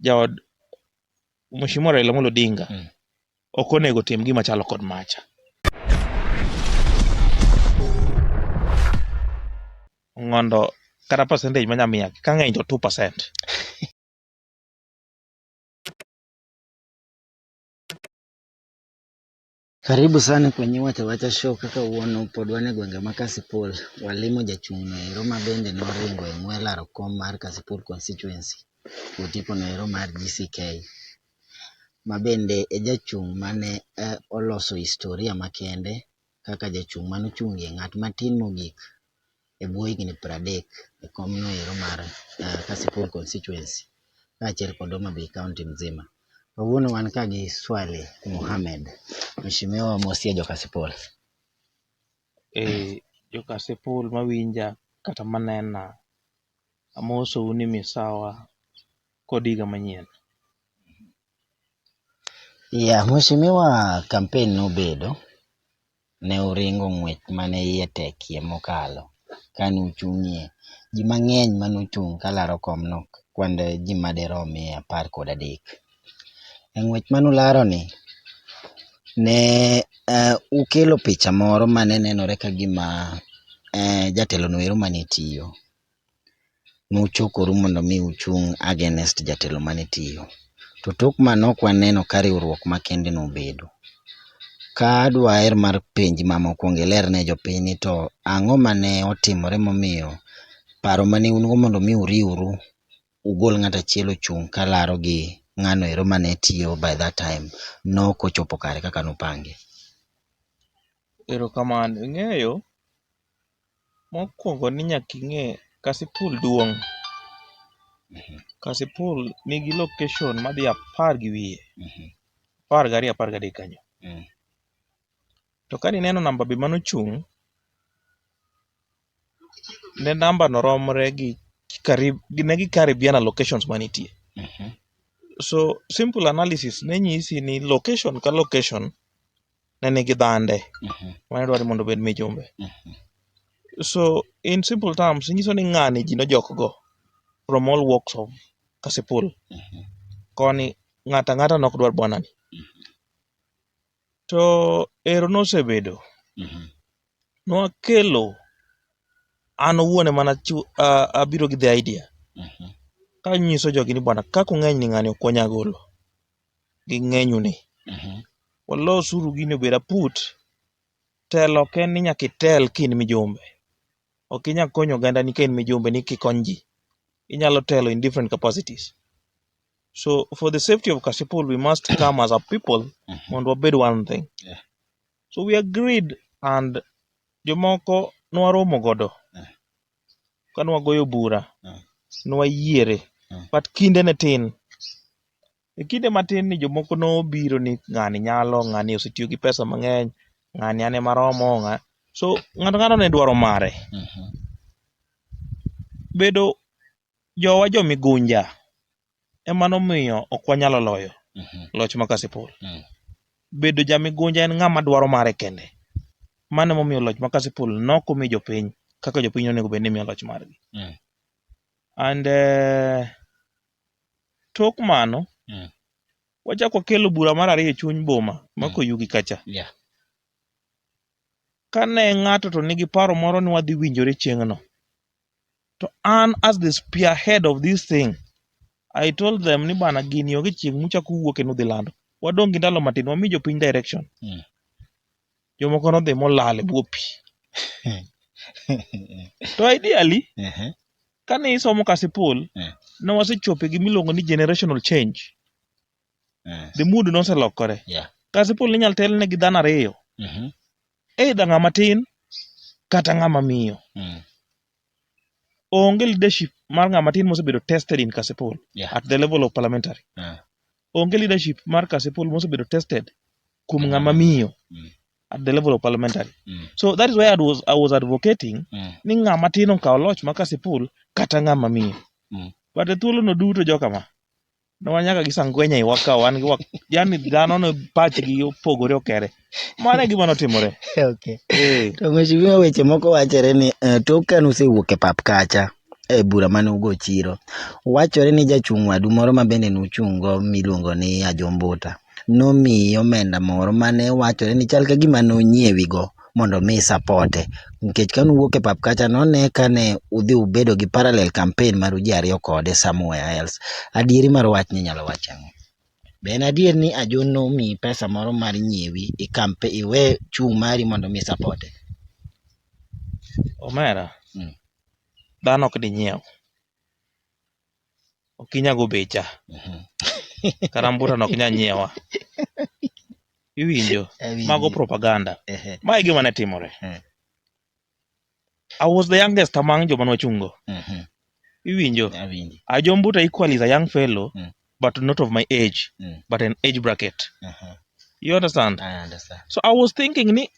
jaod Mheshimiwa Raila Amolo Odinga mm. ok onego tim gima chalo kod macha. Ngondo kata percentage manya miya ka ng'eny to 2%. Karibu sana kwenye Wacha Wacha Show. Kaka uono pod wan e gwenge ma Kasipul, walimo jachung' no ero ma bende noringo e ng'we laro kom mar Kasipul constituency otipo no ero mar GCK ma bende e jachung' mane eh, oloso historia makende kaka jachung' mane ochungie ng'at matin mogik e bwo higni pradek e kom no ero mar Kasipul Constituency kaachiel kod Homa Bay County mzima. Kawuono wan ka gi Swaleh Mohammed. Mheshimiwa mosie jo Kasipul. Eh, jo Kasipul mawinja kata manena, amosou ni misawa kod higa manyien. Yeah, Mheshimiwa kampen nobedo ne uringo ng'wech ma ne iye tekie mokalo ka ne uchung'ie. Ji mang'eny ma nochung' ka laro kom nokwand ji ma dirom mia apar kod adek. E ng'wech ma nularoni, ne ukelo picha moro ma ne nenore ka gima jatelono ero ma ne tiyo. nuchokoru mondo mi uchung' against jatelo mane tiyo. To tok mano ok waneno ka riwruok makende nobedo. Ka dwaher mar penji ma mokwongo iler ne jopiny ni to ang'o mane otimore momiyo paro mane un go mondo mi uriwru ugol ng'ato achiel ochung' kalaro gi ng'ano ero mane tiyo by that time nok ochopo kare kaka nupange. Erokamano. Ing'eyo, Mokuongo ni nyaka ing'e kasipul duong'. Kasipul nigi location madhi apar gi wiye. Apar gariyo apar gadek kanyo. To kane ineno namba be mane ochung', ne namba no romre gi karibu ne gi karibiana locations manitie. So simple analysis ne nyisi ni location ka location ne nigi dhande mane dwaro ni mondo obed mijumbe. So in simple terms, inyiso ni ng'ani ji nojok go from all walks of Kasipul. Koni ng'ato ang'ata ne ok dwar bwana ni. To ero nosebedo. Nwakelo, an owuon ema nachiwo, abiro gi the idea kanyiso jogi ni bwana kaka ung'eny ni ng'ani ok wanyal golo. gi ng'enyu ni mhm. walos uru gini obed aput telo ok en ni nyaka itel ka in mijumbe ok inyal konyo oganda ni ka in mijumbe ni kikony ji inyalo telo in different capacities so for the safety of kasipul we must come as a people mhm. mondo wabed one thing yeah. so we agreed and jomoko nwaromo godo yeah. kane wagoyo bura ne wayiere but kinde ne tin. E kinde matin ni jomoko nobiro ni ng'ani nyalo, ng'ani osetiyo gi pesa mang'eny, ng'ani an ema aromo, ng'a- so ng'ato ng'ato ne dwaro mare. Bedo jowa jo migunja ema nomiyo ok wanyalo loyo Mhm. loch ma Kasipul. Mm. Bedo jamigunja en ng'ama dwaro mare kende. Mano emomiyo loch ma Kasipul nok omi jopiny kaka jopiny onego bed ni miyo loch margi. Mm. And eh, tok mano, Mm. wachak wakelo bura mar ariyo e chuny boma ma Mm. Koyugi kacha. Yeah. Kane ng'ato to nigi paro moro ni wadhi winjore chieng'no, To an as the spearhead of this thing, I told them ni bana gini onge chieng' muchako uwuok kendo udhi lando. Wadong' gi ndalo matin, wami jopiny direction. Mm. Jomoko nodhi molal e bwo pi. to ideally, Ehe. kane isomo Kasipul, Mm. ne wasechopo e gima iluongo ni generational change. Eh, The mood noselokore. Yeah. Kasipul inyalo telne gi dhano ariyo. Mhm. either ng'ama tin kata ng'ama miyo Mm. onge leadership mar ng'ama tin mosebedo tested in kasipul Yeah. at the level of parliamentary Ah. onge leadership mar kasipul mosebedo tested kuom Mm. ng'ama miyo Mm. at the level of parliamentary Mm. so that is why I was, I was advocating Mm. ni ng'ama tin okaw loch ma kasipul kata ng'ama miyo Mm. but e thuolono duto jokama ne wan nyaka gi sangwenya iwa ka wan gi wak- yani dhano ne pachgi opogore okere mano e gima notimore okay. Eh, to mheshimiwa weche moko wachore ni eh, tok kane usewuok e pap kacha e bura mane ugo chiro wachore ni jachung' wadu moro ma bende nuchung'go miluongo ni ajombuta nomiye omenda moro mane wachore ni chal ka gima nonyiewigo mondo omi isapote. Nikech kane uwuok e pap kacha none kane udhi ubedo gi parallel campaign mar ji ariyo kode somewhere else. Adieri mar wachni inyalo wach ang'o? Be en adier ni Ajo nomiyi pesa moro mar nyiewi iwe chung' mari mondo omi isapote? Omera, dhano ok dinyiew. ok inya go becha kata mbuta no ok inya nyiewa iwinjo Awinjo. mago propaganda Ehe. ma e gima ne timore Mm. i was the youngest among joma nwachungo Mhm. iwinjo Awinjo. ajombuta equal is a young fellow Mm. but not of my age Mm. but an age bracket Aha. you understand I understand. so i was thinking ni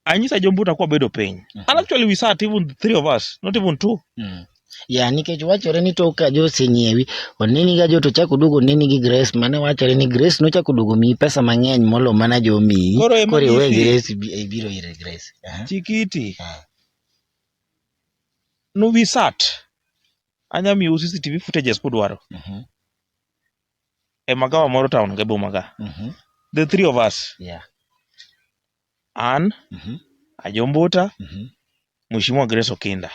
anyisa jombuta kwa bedo piny mm -hmm. and actually we sat even three of us not even two mm. ya nikech wachore ni tok ka joseng'iewi oneni ga jo to chak oduogo oneni gi grace mane wachore ni grace nochak oduogo miyi pesa mang'eny molo mana jo miyi koro iwe grace ibiro ire grace chikiti ah. no we sat anya miyo cctv footages kudwaro mm -hmm. e magawa moro town ga bomaga mm -hmm. the three of us yeah An, Ajombuta, Mheshimiwa Grace Okinda.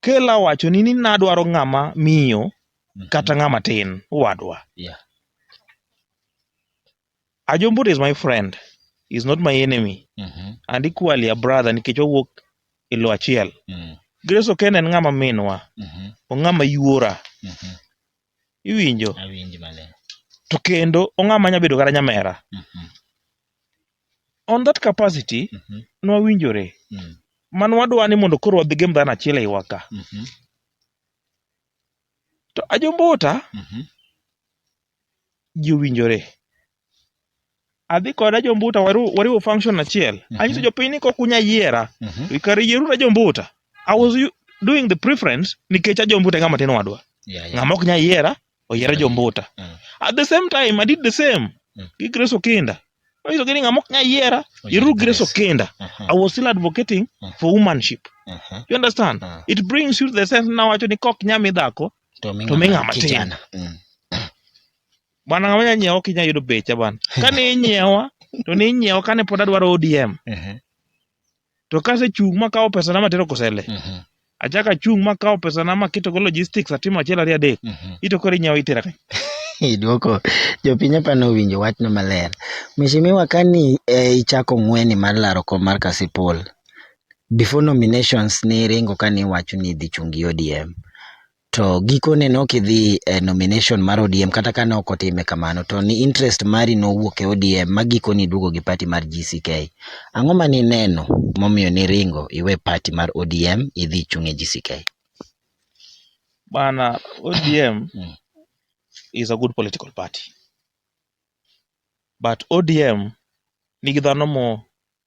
Kel awachoni ni nadwaro ng'ama miyo kata ng'ama tin, owadwa. Yeah. Ajombuta is my friend, he is not my enemy. And equally a brother nikech wawuok e lo achiel. Grace Okinda en ng'ama minwa, ong'ama yuora. iwinjo awinji maler to kendo ong'ama nya bedo kata nyamera Mhm, on that capacity mhm, nwawinjore mm, man wadwa ni mondo koro wadhi gem dhano achiel eiwa ka mhm, to ajombuta mhm, ji owinjore adhi koda jombuta wariw wariw function achiel Mhm. anyiso jopiny ni kok unya yiera Mhm. to kar yierura jombuta i was u- doing the preference nikech ajombuta e ng'ama tin wadwa Yeah, yeah. ng'ama ok nya yiera oyiera Mhm. jombuta Mhm. at the same time i did the same Mhm. gi grace okinda anyiso gi ni ng'ama ok nya yiera Oyier yieruru grace Grace. okinda Mhm. i was still advocating Mhm. for womanship Mhm. you understand Mhm. it brings you to the sense nawacho ni kok nya mi dhako To mi To mi ng'ama ng'ama tin. kijana. Mm. Bana ng'ama nya nyiewa kinya yudo becha bana. Kane inyiewa to ne inyiewa kane pod adwaro ODM. Ehe. To kase chung' ma kawo pesa na matero kosele. Mhm. Achaka chung' ma kawo pesa na maketo go logistics atimo achiel ariyo adek. Mhm. Ito koro inyiewa itera kanye. Idwoko jopiny apani owinjo wachno maler. Mheshimiwa kani e, ichako ng'weni mar laro kom mar Kasipul, before nominations ne iringo kani iwacho ni idhi chung' gi ODM. to gikone ne ok idhi e nomination mar ODM kata ka ne ok otime kamano to ni interest mari nowuok e ODM ma gikoni iduogo gi party mar GCK. Ang'o ma nineno momiyo niringo iwe party mar ODM idhi ichung' e GCK? Bana, ODM mm. is a good political party. But ODM nigi dhano mo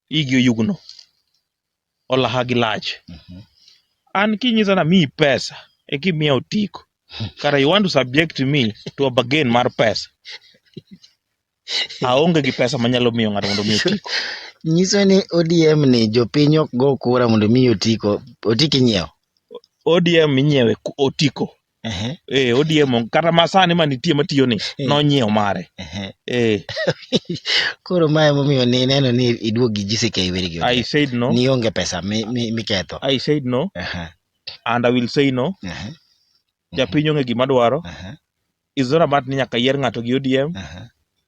igi oyugno, olaha gi lach. Mhm. An kinyisa na miyi pesa e kimiya otiko. Kara you want to subject me to a bargain mar pesa. Aonge gi pesa manyalo miyo ng'ato mondo mi otiko. Nyiso ni ODM ni jopiny ok go kura mondo mi otiko, otiki nyiewo. ODM inyiewe ku- otiko. Ehe, eh, ODM onge. kata masani manitie matiyo ni Eh. nonyiew mare ehe. eh, Koro ma emomiyo ni ineno ni iduog gi GCK weri gi I onge. said no Ni onge pesa mi- mi- miketho. I said no Ehe, and I will say no ehe, japiny onge gima dwaro ehe, it's not about ni nyaka yier ng'ato gi ODM ehe,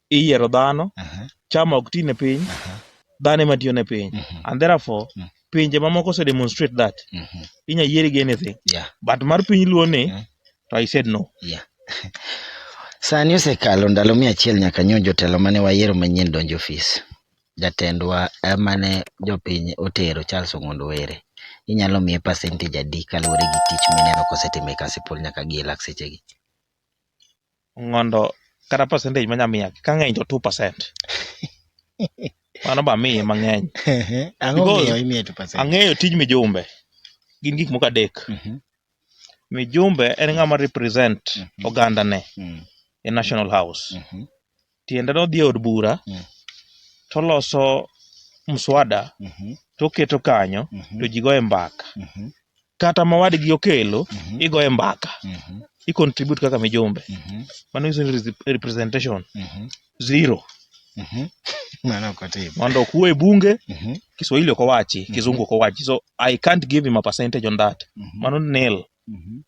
iyiero dhano, Mhm. chama ok ti ne piny, Mhm. dhano ema tiyo ne piny. Mhm. And therefore, Mhm. pinje mamoko ose demonstrate that. Mhm. Inya yieri gi anything. Yeah. But mar piny luo ni, Mhm. to I said no. Sani osekalo ndalo mia achiel nyaka nyo jotelo mane wayiero manyien donjo ofis. Jatendwa eh, mane jopiny otero Charles Ong'ondo Were. Inyalo miye percentage adi kaluwore gi tich mineno kosetimo e Kasipul nyaka gi e lak sechegi? Mondo kata percentage manya miya ka ng'eny to two percent. Mano be amiye mang'eny. Ang'o Because- momiyo imiye two percent? Ang'eyo tij mijumbe. Gin gik moko adek. Mhm, Mijumbe en ng'ama represent Mhm. ogandane mm, e National House. mhm, tiende ni odhi e od bura Mm. toloso mswada Mhm. toketo kanyo Mhm. to ji goye mbaka Mhm. kata ma wadgi okelo Mhm. igoye mbaka Mhm. i contribute kaka mijumbe Mhm. mano nyiso ni resi- representation Mhm. zero Mhm. Mano ok otim. mondo okuwe e bunge Mhm. kiswahili ok owachi Mhm. kizungu ok owachi so i can't give him a percentage on that Mhm. mano nil Mhm.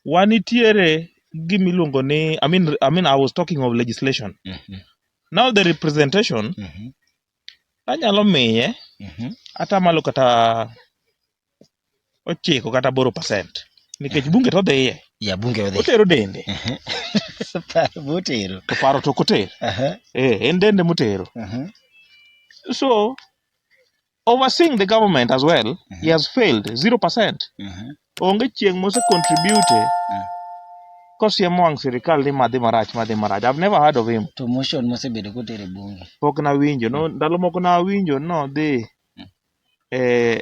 wanitiere gima iluongo ni I mean, I mean I was talking of legislation. Mhm, Now the representation mhm, anyalo miye mhm. ata malo kata ochiko kata boro percent nikech bunge to dhiye Ya bunge odhi. otero dende Mhm. Paro motero. to paro to ok oter Aha, eh, en dende motero aha. so overseeing the government as well mm -hmm. he has failed 0% mm -hmm. onge chieng' mose contribute mm. kosiemo wang' sirikal ni madhi marach madhi marach i've never heard of him to motion mosebedo kotere bunge pok nawinjo no mm. ndalo moko nawinjo no dhi mm. e,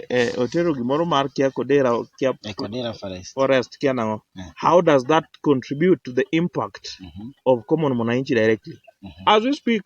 e, otero gimoro mar kia kodera kia e kodera forest forest kia nango mm. how does that contribute to the impact mm -hmm. of common mwananchi directly mm -hmm. as we speak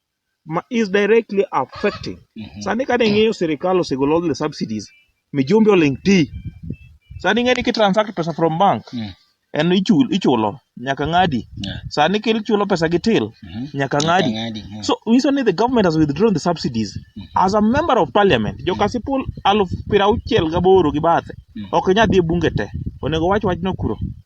ma is directly affecting. Mhm. Sani ka ding'iyo sirikal osegolo all the subsidies, mijumbe oling' ti. Sani ing'eni ki transact pesa from bank, Mm. en ichul, ichulo, nyaka ng'adi. Yeah. Sani kichulo pesa gi till, Mhm. nyaka ng'adi. Ng'adi, mm. So nyiso ni the government has withdrawn the subsidies. As a member of parliament, joka sipul aluf piero auchiel gaboro gi bathe, Mm. ok inyal dhi e bunge te. Onego wach wachno kuro.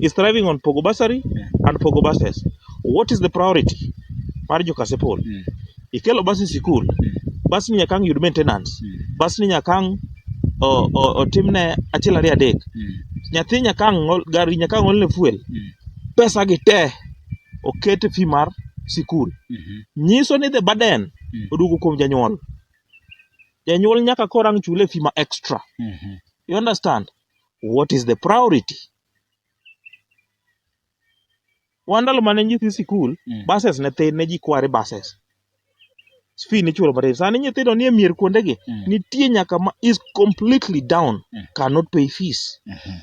is thriving on pogo bursary Yeah. and pogo buses what is the priority mar jokasepol Mm. ikelo bus e sikul bus ni nyakang yud maintenance Mm. bus ni nyakang o- o- otimne achiel ariyo adek Mm. nyathi nyakang ol- gari nyakang olne fuel Mm. pesa gi te oket e fee mar sikul Mhm. nyiso ni the burden Mm. oduogo kuom janyuol janyuol nyaka korang chule fee ma extra Mhm. you understand What is the priority? Wan ndalo mane nyithi sikul, Mm. buses ne thin, ne ji kware buses. Fee nichulo matin. Sani nyithindo nie mier kuondegi, Mm. nitie nyaka ma is completely down, Mm. cannot pay fees. Mhm.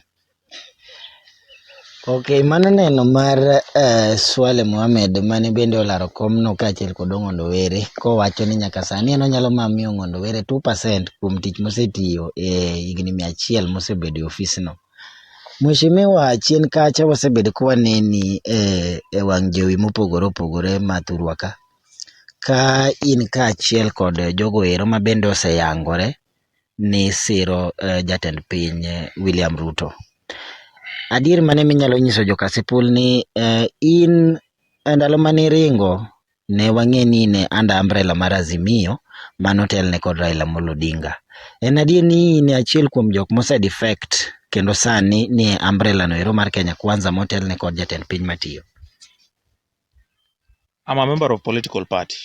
Ok, mano neno mar uh, Swale Mohamed mane bende olaro komno kaachiel kod Ong'ondo Were kowacho ni nyaka sani en onyalo mana miyo Ong'ondo Were 2% kuom tich mosetiyo e higni mia achiel mosebedo e ofisno. Mheshimiwa chien kacha wasebedo ka waneni e, e wang' jowi mopogore opogore ma thurwa ka ka in kaachiel kod jogo ero ma bende oseyangore ni siro jatend piny William Ruto. Adier mane minyalo nyiso jo Kasipul ni in e ndalo mane iringo ne wang'e ni in under umbrella mar Azimio mane otelne kod Raila Amolo Odinga. En adier ni in e achiel kuom jok mose defect kendo sani nie umbrella no ero mar Kenya Kwanza motelne kod jatend piny matiyo. I'm a member of political party.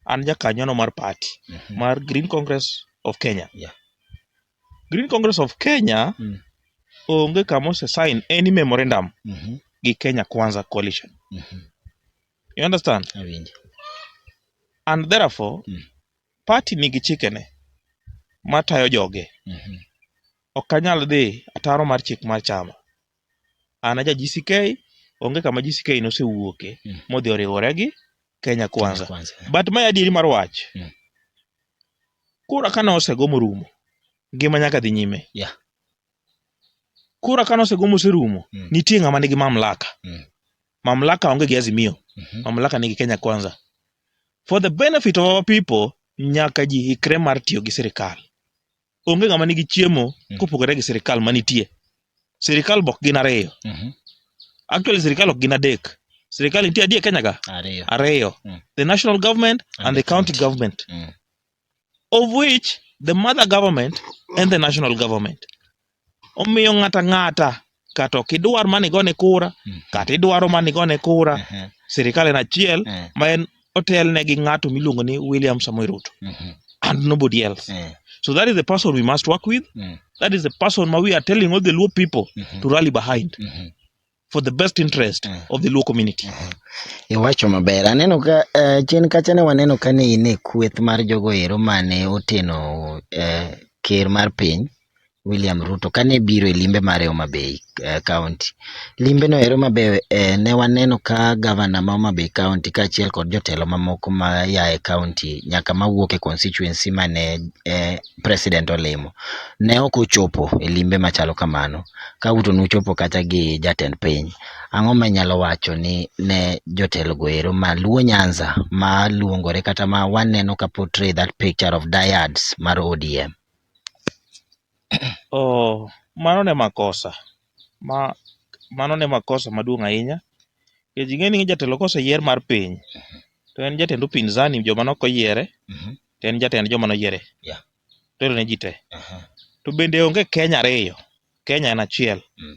an jakanyono mar party Mhm. mar Green Congress of Kenya. Yeah. Green Congress of Kenya Mm. onge kama ose sign any memorandum Mhm. gi Kenya Kwanza coalition. Mhm. You understand? Awinjo. And therefore Mm. party nigi chikene matayo joge. Mhm. Ok anyal dhi ataro mar chik mar chama. an aja GCK, onge kama GCK nosewuoke mm. modhi oriwore gi Kenya Kwanza. Kwanza. But mae adieri mar wach. Mm. Kura kane osego morumo, ngima nyaka dhi nyime. Yeah. Kura kane osego moserumo, mm. nitie ng'ama nigi mamlaka. Mm. Mamlaka onge gi Azimio. Mm -hmm. Mamlaka nigi Kenya Kwanza. For the benefit of our people, nyaka ji ikre mar tiyo gi sirikal. onge ng'ama nigi chiemo mm. kopogore gi sirikal manitie sirikal bok gin ariyo mm-hmm. actually sirikal ok gin adek sirikal nitie adie kenya ka ariyo mm. the national government and, and the county government mm. of which the mother government and the national government omiyo ng'ata ng'ata kata ok idwar mani gone kura mm. kata idwaro mani gone kura mm-hmm. sirikal en achiel mm. ma en otelne gi ng'ato miluongo ni William Samoei Ruto mm-hmm. and nobody else mm. so that is the person we must work with mm. that is the person ma we are telling all the Luo people mm-hmm. to rally behind mm-hmm. for the best interest mm. of the Luo community. Mm-hmm. Iwacho maber. Aneno ka uh, chien kacha ne waneno ka ne in e kweth mar jogo ero mane oteno uh, ker mar piny William Ruto kane biro e limbe mare e Homa Bay eh, County. Limbe no ero mabe eh, ne waneno ka gavana ma Homa Bay County kaachiel kod jotelo mamoko ma ya e county nyaka mawuok e constituency mane eh, president olimo ne ok ochopo e limbe machalo kamano. Ka uto nuchopo kata gi jatend piny. Ang'o ma inyalo wacho ni ne jotelo go ero ma Luo Nyanza ma luongore kata ma waneno ka portray that picture of dyads mar ODM? Oh, mano ne makosa. Ma, mano ne makosa maduong' ahinya. Nikech ing'e ni jatelo koseyier mar piny, to en jatend upinzani joma ne ok oyiere, Mhm. to en jatend joma noyiere. Yeah. Telo ne ji te. Aha. To bende onge Kenya ariyo. Kenya en achiel. Mm.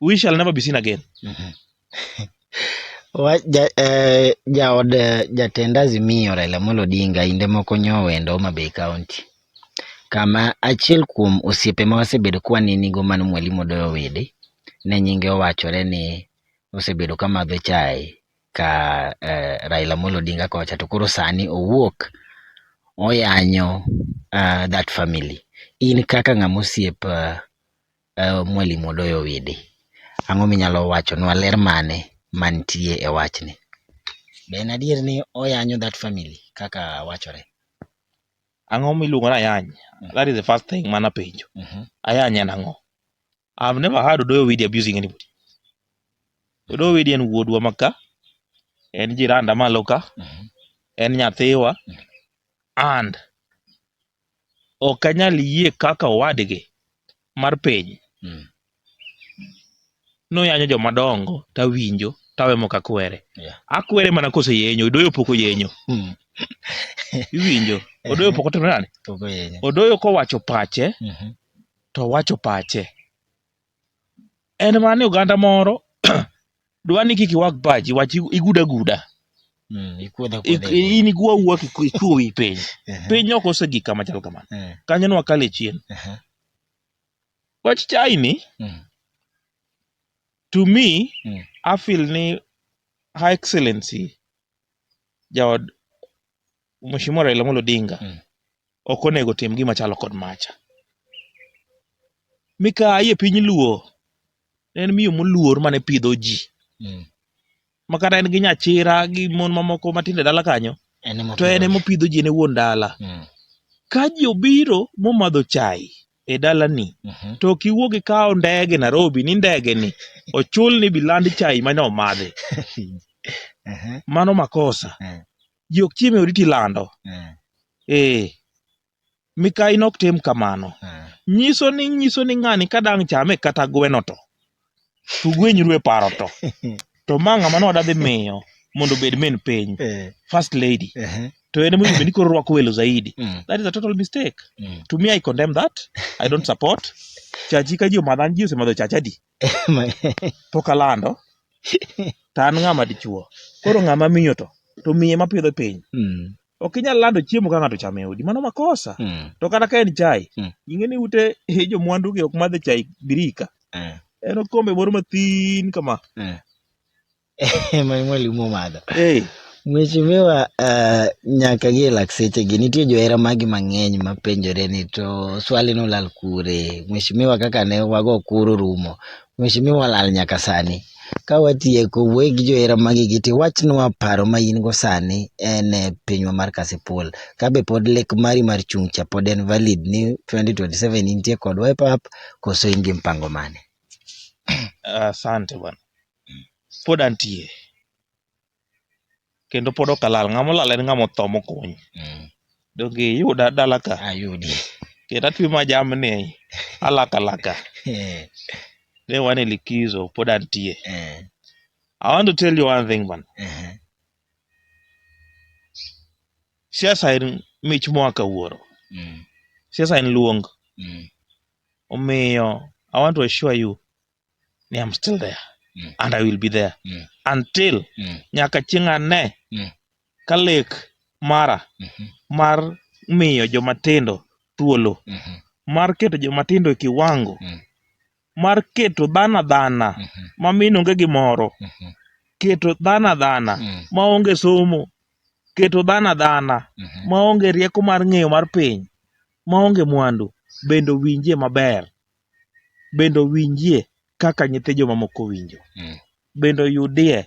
we shall never be seen again. Wa- ja- eh, Jaod eh, jatend Azimio Raila Amolo Odinga inde moko nyowendo Homa Bay County kama achiel kuom osiepe ma wasebedo kwanenigo mano Mwalimu Odoyo Wede ne nyinge owachore ni osebedo ka madho chae ka eh, Raila Amolo Odinga kocha to koro sani owuok oyanyo ah, that family. In kaka ng'ama osiep ah, Mwalimu Odoyo Widi, ang'o minyalo wachonwa ler mane mantie e wachni? Be en adier ni oyanyo that family kaka wachore? Ang'o miluongo ni ayany? That is the first thing mane apenjo. Mhm. Ayany en ang'o? I have never heard Odoyo Widi abusing anybody. Odoyo Widi en wuodwa ma ka, en jiranda malo ka, Mhm. en nyathiwa and ok anyal yie kaka owadgi mar piny Mm. noyanyo joma dongo tawinjo tawe mok akwere Yeah. akwere mana koseyenyo odoyo pok oyenyo Mm. iwinjo odoyo pok otimo nani Pok oyenyo. odoyo kowacho pache Mhm. to wacho pache en mana ni oganda moro dwa ni kik iwag pachi wach iguda guda Mm, ikuodha Ik- kuodha. in igwa wuwa kichwo wi piny Ehe, piny ok osegik kama chal kamano eh, kanyo ne wakale chien ehe, wach chai ni mm, to me Mm. I feel ni her excellency jaod Mheshimiwa Raila Amolo Odinga mm. ok onego tim gima chalo kod macha. Mikayi e piny Luo en miyo moluor mane pidho ji mm. makata en gi nyachira gi mon mamoko matindo e dala kanyo to en emopidho ji ne wuon dala mm. ka ji obiro momadho chai e dalani mm -hmm. to ok iwuog ikawo ndege Nairobi ni ndege ni ochul ni biland chai mane omadhi mano makosa mm. ji ok chiem e odi tilando Mm. ee mikayi nok tim kamano Mm. nyiso ni nyiso ni ng'ani ka dang' chame kata gweno to to gwenyru e paro to to ma ng'ama ne wadadhi miyo mondo obed min piny Eh, first lady ehe. to en emonego bed ni koro rwako welo zaidi Mm. that is a total mistake Mm. to me i condemn that i don't support chachi ka ji omadhan ji osemadho chachadi pok alando to an ng'ama dichuo. Koro ng'ama miyo to to miye ma pidho piny. Mm. Ok inyal lando chiemo ka ng'ato chame odi, mano makosa. Mm. To kata ka en chai, mm. ing'e ni ute eh, jo mwandu gi ok madhe chai birika. Mm. En okombe moro mathin kama. Mm. Mwalimu omadho. Hey. Mheshimiwa, uh, nyaka gi lakseche gi nitie johera magi mang'eny mapenjore ni to swali no lal kure. Mheshimiwa kaka ne wago kuro rumo. Mheshimiwa lal nyaka sani. Ka watieko wuo gi johera magi gi ti wachnwa paro ma in go sani en e pinywa mar Kasipul. Ka be pod lek mari mar chung' cha pod en valid ni 2027 intie kodwa e pap koso in gi mpango mane? Asante uh, bwana. pod antie kendo pod ok alal. Ng'ama olal en ng'ama otho mokuny. Donge iyuda dala ka? Ayudi. Kendo atwe ma jamni alaka alaka. Ne wan e likizo pod antie. I want to tell you one thing man. Siasa en mich moa ka wuoro. Siasa en luong. Omiyo I want to assure you ni I'm still there mm. and I will be there mm. until mm. nyaka chieng' ane mm. ka lek mara mm -hmm. mar miyo jomatindo thuolo mm -hmm. mar keto jomatindo e kiwango mm. mar keto dhana dhana mm -hmm. ma min onge gi moro mm -hmm. keto dhana dhana mm. ma onge somo keto dhana dhana mm -hmm. ma onge rieko mar ng'eyo mar piny ma onge mwandu bende owinjie maber bende owinjie kaka nyithy jomamoko winjo, mm. bende oyudie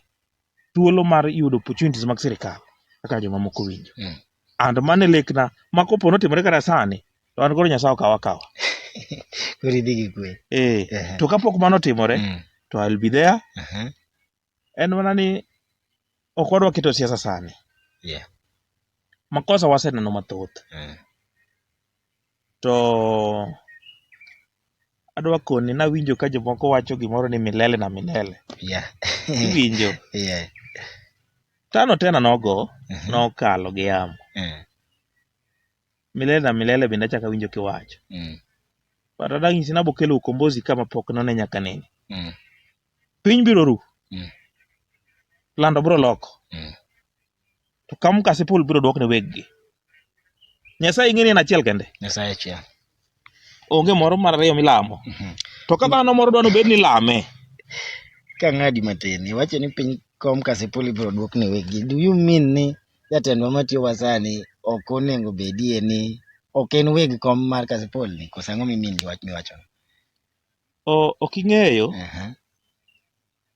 thuolo mar yudo opportunities mag sirikal kaka jomamoko winjo. Mm. And mano e lekna ma kopo notimore kata sani to an koro Nyasaye okawa akawa. Koro idhi gi kwe. Eh, to kapok mano otimore mm. to I'll be there. Uh -huh. en mana ni ok wadwa keto siasa sani. Yeah. Makosa waseneno mathoth. Mm. To adwa koni nawinjo ka jomoko wacho gimoro ni milele na milele. Yeah. Iwinjo? yeah. Tano tena nogo mm -hmm. nokalo gi yamo. Mm. Milele na milele bende achaka winjo kiwacho. Mm. But adanyisi nabokelo ukombozi kama pok none nyaka nene. Mm. piny biro ru, Mm. lando biro loko, Mm. to ka mkasi pool biro dwok ne weggi. Nyasaye ing'e ni en achiel kende, Nyasaye achiel. onge moro mar ariyo milamo. Mhm. To ka dhano moro dwani obed ni lame, Ka ng'adi matin, iwacho ni piny kom kasipul ibiro duok ne wegi. Do you mean ni jatendwa matiyo wa sani ok onego bedie ni ok en weg kom mar kasipul ni? Koso ang'o mimin gi wach miwacho? Oh, ok ing'eyo, Aha.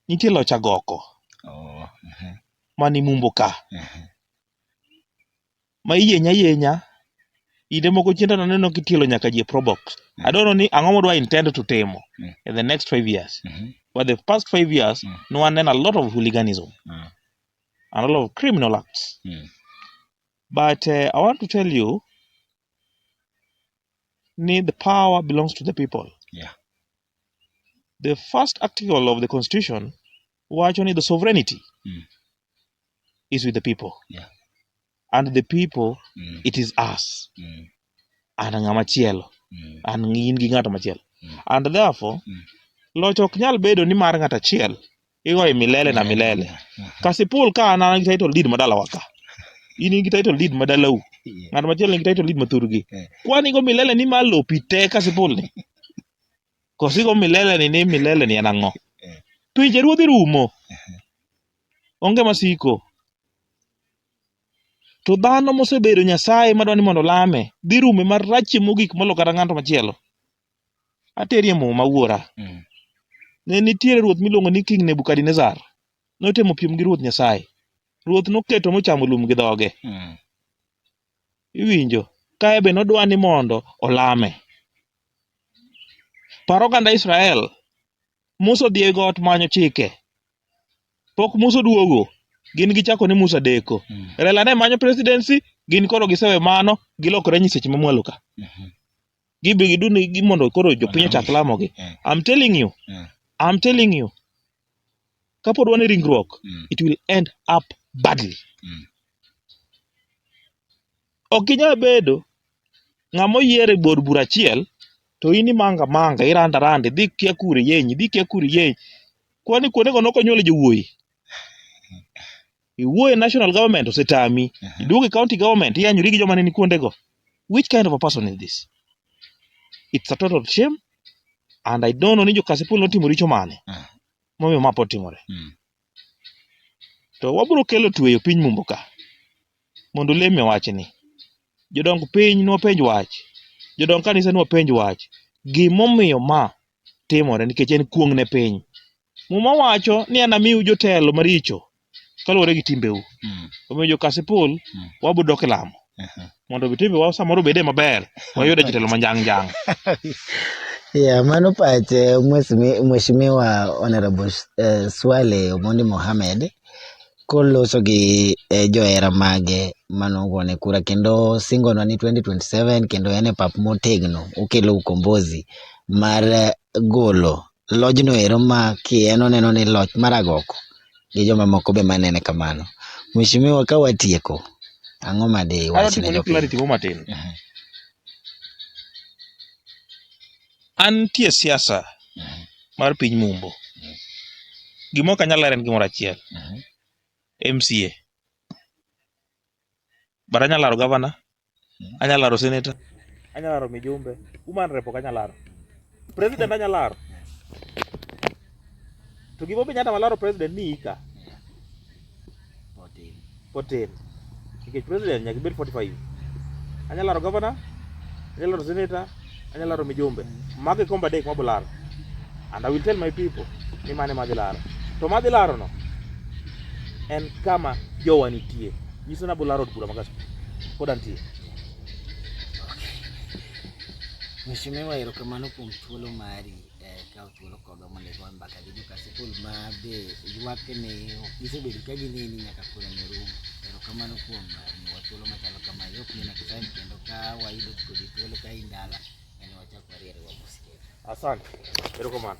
nitie loch agoko Oh, aha. mani mumbo ka. Aha. Ma iyenya yenya. Inde moko chienda naneno kitielo nyaka ji e probox. I don't know ni ang'o modwa intend to timo Mm. in the next five years. Mhm. But the past five years, Mm. no one a lot of hooliganism Mm. and a lot of criminal acts. Mm. But uh, I want to tell you, ni the power belongs to the people. Yeah. The first article of the constitution wacho ni the sovereignty Mm. is with the people. Yeah. And the people Mm. it is us. Mm. An ng'ama chielo. Mm. An in gi ng'ato machielo. Mm. And therefore Mm. loch ok nyal bedo ni mar ng'ato achiel igoi milele na milele kasipul ka an an gi title deed ma dalawa ka in in gi title deed ma dalau ng'at machielo nigi title deed ma thurgi Eh. kwani go milele ni ma lopi te kasipul ni kosi go milele ni ni milele ni en ang'o Eh. pinje ruodhi rumo onge masiko to dhano mosebedo nyasaye madwa ni mondo olame dhi rume marachie mogik molo kata ng'ato machielo Aterie muma wuora. Mm. Ne nitiere ruoth miluongo ni King Nebukadnezar. Notemo piem gi ruoth Nyasaye. Ruoth noketo mochamo lum gi dhoge. Mm. Iwinjo? Kae be nodwa ni mondo olame. Paro oganda Israel. Musa odhi e got manyo chike. Pok Musa oduogo. Gin gichako ni Musa deko. Mm. Rela ne manyo presidency, gin koro gisewe mano, gilokore nyiseche mamwalo ka. Mm-hmm. gibi gidun gi mondo koro jopiny ochak lamogi Mm. i'm telling you Mm. i'm telling you kapod wan e ringruok Mm. it will end up badly Mm. ok inyal bedo ng'ama oyier e bor bura achiel to in imanga manga iranda randa idhi kia kure yenyi idhi kia kure yenyi kwani kuondego nokonyuole jowuoyi Iwuoyo e national government osetami. Aha. Iduogo e county government iyanyori gi joma ne ni kuonde go. Which kind of a person is this? It's a total shame and I don't know ni jo Kasipul notimo richo mane. Ah. Momiyo ma pod timore. Mm. To wabiro kelo tweyo piny mumbo ka. Mondo leme wachni. Jodong piny nwapenj wach. Jodong kanisa nwapenj wach. Gimomiyo ma timore nikech en kuong' ne piny. Muma wacho ni anamiu jotelo maricho kaluwore gi timbeu. Mm. Omiyo jo Kasipul Mm. wabiro dok e lamo Aha. mondo obi timbewa samoro obede maber wayude jotelo manjang' njang'. Yeah, mano pache Mheshimiwa- Mheshimiwa Honorable eh, Swale Omondi Mohamed koloso gi johera mage mane ogone kura kendo singonwa ni 2027 kendo en e pap motegno okelo ukombozi mar golo lojno ero ma ki en oneno ni loch mar agoko gi jomamoko be manene kamano. Mheshimiwa ka watieko, ang'o ma di Adwa iwach ne timone jopiny? clarity moro matin. An nitie siasa mar piny mumbo. Gima ok anyal lero en gimoro achiel. MCA. But anyalo laro gavana, anyalo laro seneta, anyalo laro mijumbe, woman rep ok anyal laro. President anyalo laro. To gima omiyo nyata malaro president ni ika. Potin. Potin. Nikech president nyaka ibed 45. Anya laro governor, anya laro senator, anya laro mijumbe. Magi komba dek mabo laro. And I will tell my people ni mane madhi laro. To madhi laro no en kama jowa nitie. Nyiso na bolaro od bura magas. Koda nitie. Mheshimiwa, erokamano kuom thuolo mari. eh, kawo thuolo kodwa mondo igo mbaka gi joka sikul ma be ywak ni ok gisebedo ka gineni nyaka koro ne rum erokamano kuom eh, miwa thuolo machalo kama yok ni next time kendo ka wayudo kodi thuolo ka indala en wachak wariere wamosikere asante erokamano